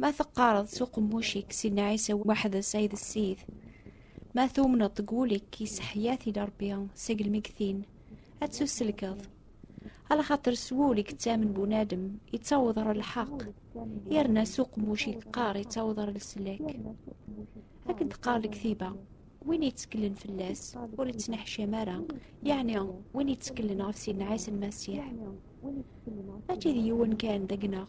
Ma teqqareḍ s uqemmuc-ik Sidna Ɛisa weḥd-s ay d Ssid, ma tumneḍ deg wul-ik yesseḥya tili Rebbi seg lmegtin, ad tusselkeḍ. Alaxaṭer s wul i yettamen bunadem yettaweḍ ɣer lḥeqq, yerna s uqemmuc i yeqqar yettaweḍ ɣer leslak. Akken teqqar lektiba, win yetteklen fell-as ur yettneḥcam ara, yeɛni win yetteklen ɣef Sidna Ɛisa Lmasiḥ. Mačči d yiwen kan deg-neɣ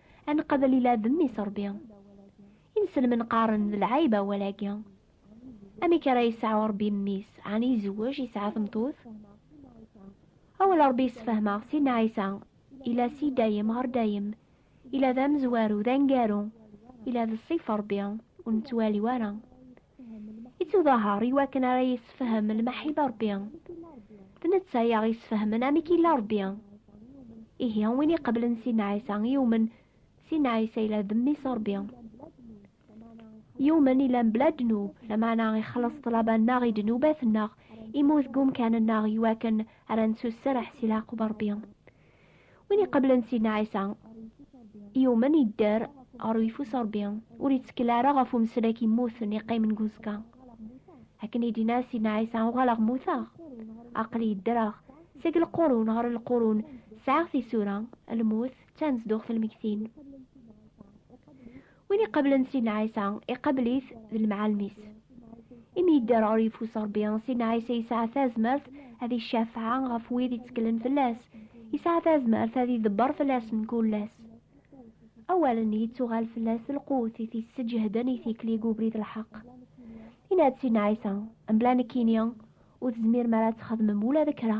ad nqabel ila d mmi Rebbi. Inselmen qqaren d lɛayb awal-agi. Amek ara yesɛu Rebbi mmi-s, ɛni izewwej, yesɛa tmeṭṭut? Awal Rebbi yessefhem-aɣ Sidna Ɛisa, ila si dayem ɣer dayem, ila d amezwaru, d aneggaru, ila d ṣṣifa Rebbi, ur nettwali ara. Ittuḍahaṛ i wakken ara yessefhem lmeḥib Ṛebbi. D netta i aɣ-yessefhmen amek yella Ṛebbi. Ihi win iqeblen Sidna Ɛisa yumen Sidna Ɛisa yella d mmi-s Ṛebbi. Yumen yella mebla ddnub, lameɛna ixelleṣ ṭṭlaba-nneɣ i ddnubat-nneɣ, imut deg umkan-nneɣ i wakken ara nettuserreḥ si leɛqub Ṛebbi. win iqablen Sidna Ɛisa yumen yedder ɣer uyeffus Ṛebbi ur yettkel ara ɣef umeslak yemmuten yeqqimen deg uzekka akken i d-yenna Sidna Ɛisa uɣaleɣ mmuteɣ aqli yeddreɣ seg lqurun ɣer lqurun sɛiɣ tisura lmut d tanezduɣt lmegtin Win iqablen Sidna Ɛisa, iqabel-it d lemɛalem-is. Imi yedder ɣer yeffus Rebbi, Sidna Ɛisa yesɛa tazmert ad icafeɛ ɣef wid itteklen fell-as, yesɛa tazmert ad idebber fell-asen kul ass. Awalen yettuɣal fell-as d lqut i t-isseǧehden i tikli deg ubrid n lḥeqq. Yenna-d Sidna Ɛisa, Mebla nekkini, ur tezmirem ara ad txedmem ula d kra.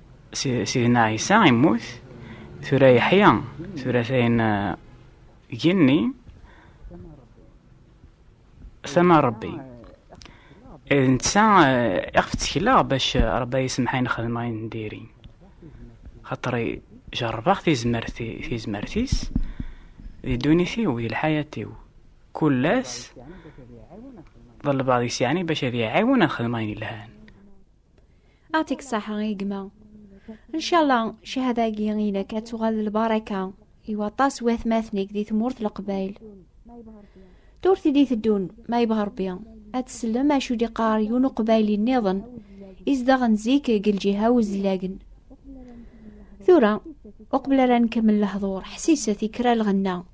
Sidna Ɛisa immut, tura yeḥya, tura tayen eh, genni, tama Rebbi. Eh, netta eh, iɣef ttekleɣ bac Rebbi yisemḥayen xedmeɣ ayen diri. Xaṭer jerrbeɣ tizmert-is di ddunit-iw, di lḥayat-iw. Kul ass ḍelbeɣ deg-s yeɛni bac ad iɛiwen ad xedmeɣ ayen yelhan. Atik saḥa i gma. Ncalla, cahada-agi inek ad tuɣal d lbaraka i waṭas watmaten-ik di tmurt leqbayl. Turt i d-iteddun, ma yebɣa Rebbi, ad tsellem acu d-iqqar yiwen uqbayli nniḍen izdaɣen zik deg lǧiha uzlagen. Tura, uqbel ara nkemmel lehdur, ḥsiset i kra lɣenna.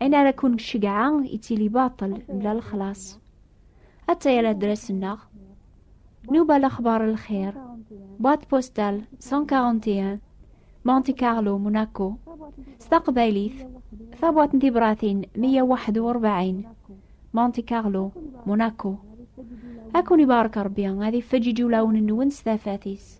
Ayen ara kun cegɛa yettili baṭel mla lexlaṣ. Atta yal adras-nneɣ. Nuba lexbar lxir. Boîte postale 141 Monte Carlo, Monaco. S taqbaylit, tabwaṭ n tibratin 141 Monte Carlo, Monaco. Ad kun ibarek Rebbi, ad ifeǧǧiǧ ulawen-nwen s tafat-is.